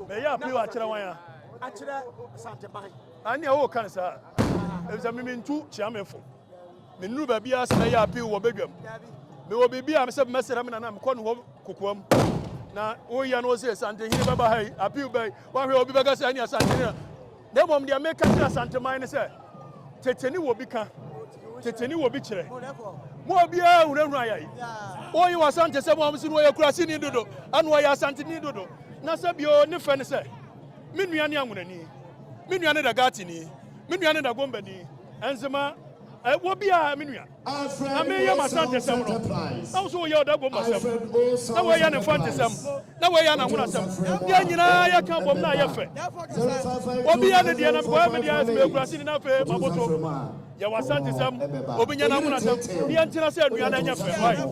bɛyɛ appeal akyerɛ wan a. akyerɛ santeban. anea wo kan saa ebisa me mentu kyiamefo me nuru baabi a sɛ mɛyɛ appeal wɔ bedwam me wɔ biribi a sɛ mɛsrɛ me nana mekɔ no hɔ kokoam na woyɛ no sɛ santehene bɛba ha yi appeal bɛyi wahwɛ obi bɛka sɛ anea santehene Na mmom deɛ meka kyerɛ Asanteman ne sɛ, tete ne wɔ bi ka, tete ne wɔ bi kyerɛ. Mo a obiara hunahuna yɛn. Woyi wɔ Asante sɛ mo a mo se no ɔyɛ kuraseni dodo, ano ɔyɛ Asanteni dodo. Na sɛ bio ne fɛ ne sɛ, me nua ne Anwonani, me nua ne Dagatini, me nua ne Dagombani, Nzema, eh, wɔ biara me nua. na mereyɛ m'asantesɛm no, na wo nso woyɛ ɔdaguammasɛm, na woyɛ ne mfantesɛm, na woyɛ ananhonasɛm. Yɛn nyinaa yɛka bom na ayɛ fɛ. Obi yɛ ne deɛ, na mekɔyɛ me deɛ, meyɛ kuraseni na afei maboto. Yɛ w'asantesɛm, obi nyɛ n'anhonasɛm, na yɛntena sɛ anuanom, ɛnyɛ fɛ. Wai?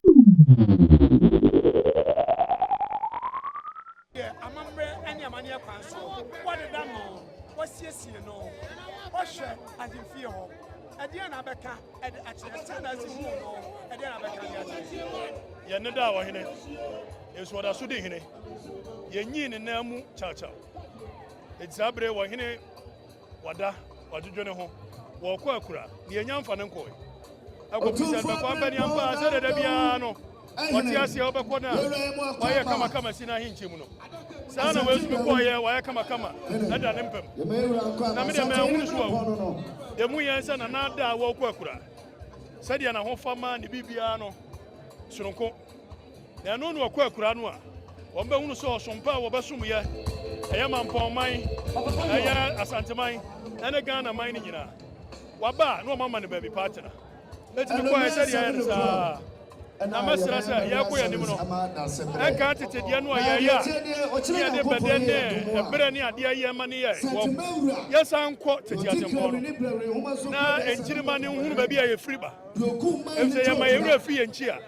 Yɛ amammerɛ ne amanneɛ kwan so. Wɔdeda no, wɔsiesie no, wɔhwɛ ahemfie hɔ. Ɛdeɛn na abɛka de akyerɛ? Sɛn na asi huu no? Ɛdeɛn na abɛka de akyerɛ? Yɛn ne daa wɔ hene, nso ɔda so di hene. Yɛnyii ne nan mu kyawkyaw. Enti saa bere wɔ hene Wada, wadwedwe ne ho, wɔkɔ akura, deɛ anya mfa no nkɔe. Akɔpem sɛ bɛkɔ abɛne ampa sɛ dada biara no, wɔte aseɛ wɔbɛkɔ no a, wɔayɛ kamakama si no ahenkyɛ mu no. Saa na wɔasumi kɔɔyɛ, wɔayɛ kamakama ɛda ne mpam. Na medeɛ manhunu so awu. Deɛ mu yɛn sɛ nana ada a wɔkɔ akura, sɛdeɛ n'ahofama ne biribiara no, sononko. Na ɛno na wɔkɔ akura no a, wɔbɛhunu sɛ ɔsom pa a wɔbɛsom yɛ, ɛyɛ mampɔn man, ɛyɛ asanteman, ɛne Ghana man no nyinaa. Waba a, na wɔama no baabi pa atena. Enti mekɔɔ ɛ sɛdeɛ ayɛ no saa. Na mɛsrɛ sɛ yɛrekɔ yɛn anim no, ɛnka tete deɛ no a yɛyɛ a ne yɛde bɛdɛ ne ɛberɛ ne adeɛ a yɛma ne yɛɛ wɔ yɛsan nkɔ tete atempɔn no na nkyirimma ne nhunu baabi a yɛfiri ba, ɛfiri sɛ yɛma yɛn werɛ firi yɛn nkyi a.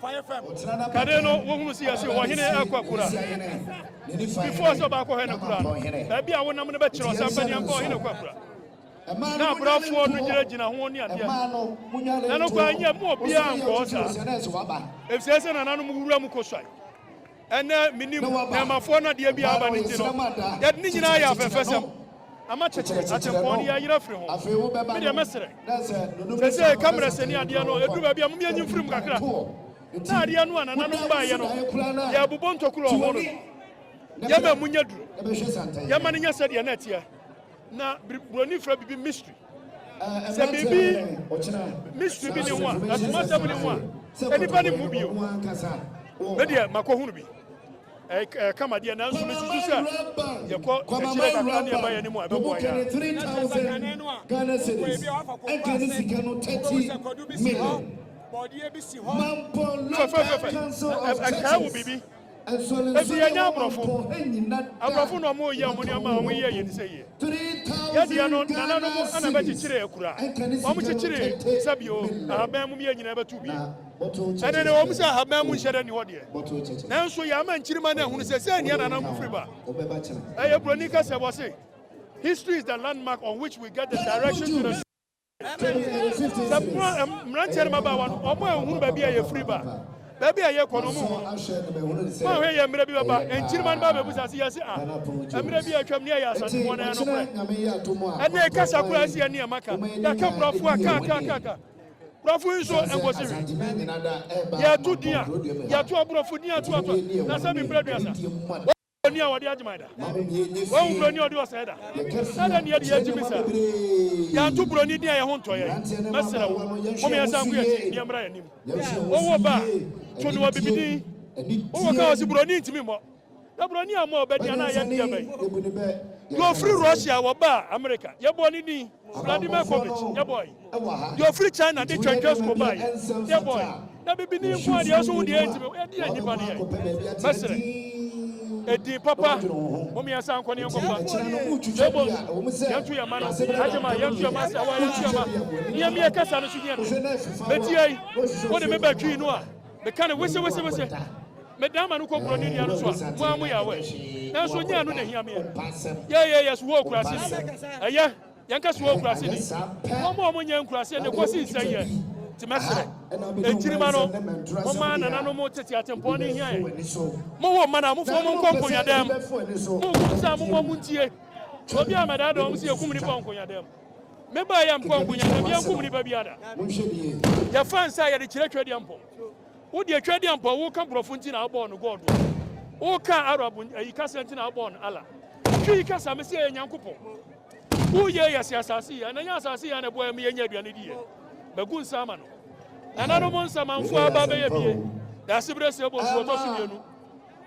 Fire fam. Kane no wohunu sɛ yɛse ɔhene ɛkɔ akura. Before sɛ ɔbaakɔ hɔ ne kura no, baabi a wonam no bɛkyerɛ ɔsɛ mpɛ neɛ nkɔ ɔhene kɔ akura. Na abrafoɔ no gyinagyina ho ne adeɛ. Na no kwan nyɛ mu obiara nkɔ hɔ saa. Efisɛ sɛ nananom wura mu kɔsuae. Ɛnnɛ, minnim nea mafoa no adeɛ biara aba ne nti no, yɛde ne nyinaa yɛ afɛɛfɛsɛm. Ama kyekye atempɔn no yɛayera afiri ho. Me deɛ mɛserɛ. Seesei kamerɛ sɛni adeɛ no, ɛduru baabi a mom yɛnyi mfiri mu kakra. Na adeɛ no a nananom baeɛ no, yɛrebobɔ ntokuro ɔho no no, yɛma ɛmu nyɛ duru. Yɛma no nyɛ sɛdeɛ na ɛteɛ. Na biri, Buroni frɛ biribi mystery. Sɛ biribi mystery bi ne ho a, asom asɛm ne ho a, sɛ nipa ne mu bio, me deɛ makɔ hunu bi. Ɛkama deɛ nanso mesusu sɛ yɛkɔ akyire kakra ne ɛba yɛ ne mu a ɛbɛboa yɛ a. Fɛfɛfɛfɛ, ɛkae wo biribi. Ebi yɛ nyɛ aborɔfo. Aborɔfo na wɔn yɛ wɔn nneɛma a wɔn yɛ yɛ ne sɛ yɛ. Yɛ deɛ no nana no mo ɛna bɛ kyekyere akura. Wɔn kyekyere sɛ bio ahaban mu yɛ nyinaa bɛ tu bi. Ɛnɛ no ɛwɔ mu sɛ ahaban mu nhyɛ dɛ ni hɔ deɛ. Nanso yɛ ama nkyirima no ahunu sɛ sɛɛ ni anana mo firi ba. Ɛyɛ broni kasa wɔ se history is the landmark on which we get the direction to the. Ɛna yɛ sɛ pono a mmeranteɛ ne mmabaawa no wɔn a wɔhunu baabi a yɛfiri ba, baabi a yɛkɔ no wɔhunu. Moahwɛ yɛ mmerɛ bi bɛba, nkyirimma no bɛbɛbusa ase yɛn se, Ah, mmerɛ bi a atwam ne yɛyɛ asasefoɔ no ɛyɛ nokorɛ. Ɛnee kasa koraa ɛsi yɛn nneɛma ka, yɛaka borɔfo a ka ka ka ka. Borɔfo yi nso ɛnkɔsi hwe. Yɛto din a, yɛto aborɔfo din atoatoa, na sɛ me mprɛ aduasa. Oni a ɔde agyeman da. Wahu buroni a ɔde ɔsɛe da. Adɛn ne yɛde yɛ gyimi saa? Yɛanto buroni din a yɛn ho ntɔ yɛn. Mɛsrɛ wo, mom yɛnsan nko yɛn akyi ne yɛmmra yɛn anim. Wowo ba a, to no abibidin. Wowo ka wɔ se buroni ntumi mmɔ. Na buroni ammɔ ɔbɛ din anaa yɛn deɛ bɛn? Deɛ ɔfiri Russia a wɔbaa Amerika, yɛbɔɔ ne din. Awurade Mefomec, Deboy, deɛ ɔfiri China de Twɛntwɛn School baeɛ, Deboy, na bibini nko ara deɛ nso wo deɛ ɛntumi, ɛdeɛ a nnipa no yɛ, mɛsrɛ, ɛdin papa, momeɛnsa nkɔ ne yɛnkɔfa, Deboy, yɛnto yɛn mma no, Adjema, yɛnto yɛn mma, Asawa, yɛnto yɛn mma, ne yɛmmeɛ kasa no so hia me, mɛti ai, wode me bɛtwii no a, meka no wese wese wese. Medan m'ano kɔ borɔn ne dua no so a, mo ara moyɛ awɛ. Nanso nyɛ ɛno na ehia me ɛ. Yɛyɛ yɛ Sohor Kurase ni. Ɛyɛ, yɛnka Sohor Kurase ni. Wɔn a wɔnyɛ nkurase ne kɔsi nsɛn yɛ. Nti mɛsrɛ, nkyirimma no, momma nananom tete atempɔn no nhia yɛn. Mowo mma no a, momfa wɔn nkɔ nkonyadɛm. Monko nso a, momma wɔntie. Obi a mɛdaadaa wɔn sɛ yɛkum nnipa wɔ nkonyadɛm. Mebaeɛ a, mekɔɔ nkonyadɛm, yɛankum nnipa biara da. Yɛfa nsa a yɛde kyerɛ Twedeɛmpɔn. Wo deɛ twa deɛ mpo a woka brɔfo nti na wobɔɔ no God o woka Arab ayi kasa nti na wobɔɔ no Allah Twi yi kasa mese ɛyɛ Nyankopɔn Wo yɛ yɛ se asase yɛ na nyɛ asase yɛ na ɛboa yɛ me yɛ nyɛ aduane di yɛ Magu nsa ama no Nananom nsamanfoɔ aba bɛyɛ bie Daasebrɛ sɛ bɔ nsuo tɔ so mmienu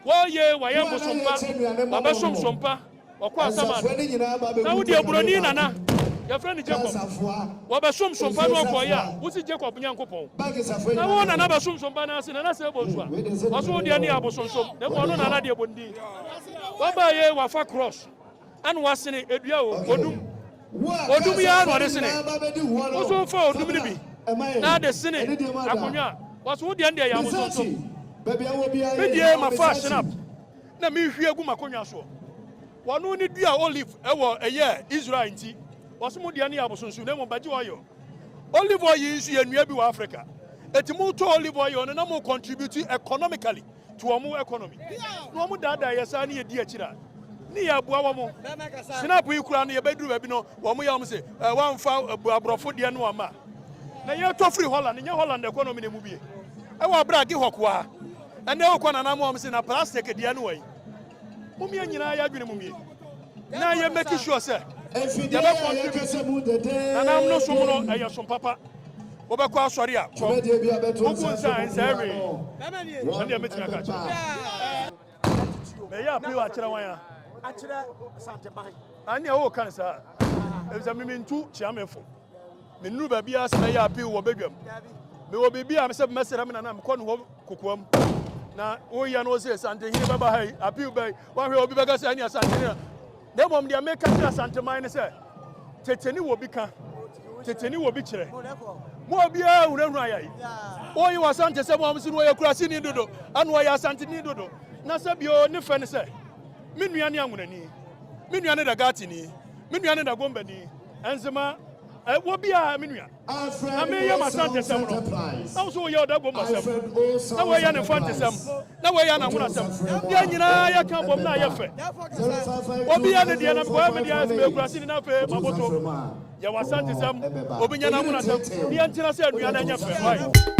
Wɔ'ye W'ayɛ bosompa, W'abɛsom sompa, Wɔ'kɔ Asaman, na wodeɛ oburoni nana, yɛfrɛ no Jacob, Wɔ'bɛsom sompa no ɔkɔɔeɛ a, wosi Jacob Nyankopɔn, na wo nana bɛsom sompa no ase, nana sɛɛ bonsua, ɔso wodeɛ neyɛ abosonsom, na mmom ɔno nana deɛ bondin, W'abaeɛ W'afa cross. Ɛna wasene dua o, odum. Odum yi ara na ɔde sene. Wo nso fa odum no bi na de sene akonnwa a. Wɔse wo deɛ no deɛ yɛ abosonsom. Me deɛ mafa shinap na mehwie agu m'akonnwa soɔ. Wɔno ne dua olive ɛwɔ ɛyɛ Israel nti. Wɔse mo deɛ no yɛ abosonsom na mmom bɛgye oil. Olive oil yi nso yɛ nnua bi wɔ Africa. Enti motɔ olive oil no na mo contribute economically. to wɔn economy na wɔn daadaa yɛ saa ne yɛ di akyiri a ne yɛ aboa wɔn snap yi koraa no yɛ bɛ duru baabi no wɔn yɛ wɔn se eh, wɔn nfa eh, aborɔfo deɛ no ama na yɛ tɔ firi Holland nyɛ Holland economy na emu bie ɛwɔ abira agi hɔ koraa ɛnna ɛwɔ kɔ nana mu wɔn se na plastic deɛ no wɔ yi mumie nyinaa yɛ adwene mumie. na yɛ make sure sɛ yɛbɛ contribute nanam no som no ɛyɛ som papa wobɛkɔ asɔre a kɔ wogu nsa a nsa ɛwee ɛne ɛmɛtumi aka kyerɛ mɛyɛ appeal akyerɛ wan a akyerɛ santeban ɛne ɛwɔ kan saa ɛfisɛ mimi ntu kyiamefo Me nuru baabi a sɛ mɛyɛ appeal wɔ badwam. Me wɔ biribi a sɛ mɛsrɛ me nana mekɔ ne hɔ kokoam. Na woyɛ no sɛ santehene bɛba ha yi appeal bɛyi wahwɛ obi bɛka sɛ ɛne asantehene na na mmom deɛ meka kyerɛ asanteman ne sɛ tete ne wɔ bi ka tete ne wɔ bi kyerɛ mo obiara hunahuna yɛi woyi wɔ asante sɛ mo amso no wɔyɛ kurase ni dodo ɛna wɔyɛ asante ni dodo na sɛ bio ne fɛ ne sɛ me nua ne anwonani me nua ne dagatini Me nua ne Dagombani, Nzema, eh, wɔ bi a, me nua. Na me yɛ m'asantesɛm no. Na wo so wo yɛ ɔdagombasɛm. Na wo yɛ ne mfantesɛm. Na wo yɛ ananwonasɛm. Yɛ nyinaa yɛ ka bom na yɛ fɛ. Obi yɛ ne deɛ na mekɔyɛ me deɛ, me kura sini na fe maboto. Yɛ w'asantesɛm, obi nyɛ n'anwonasɛm. Ne yɛ ntena sɛ nua na ɛnyɛ fɛ. Ɔe.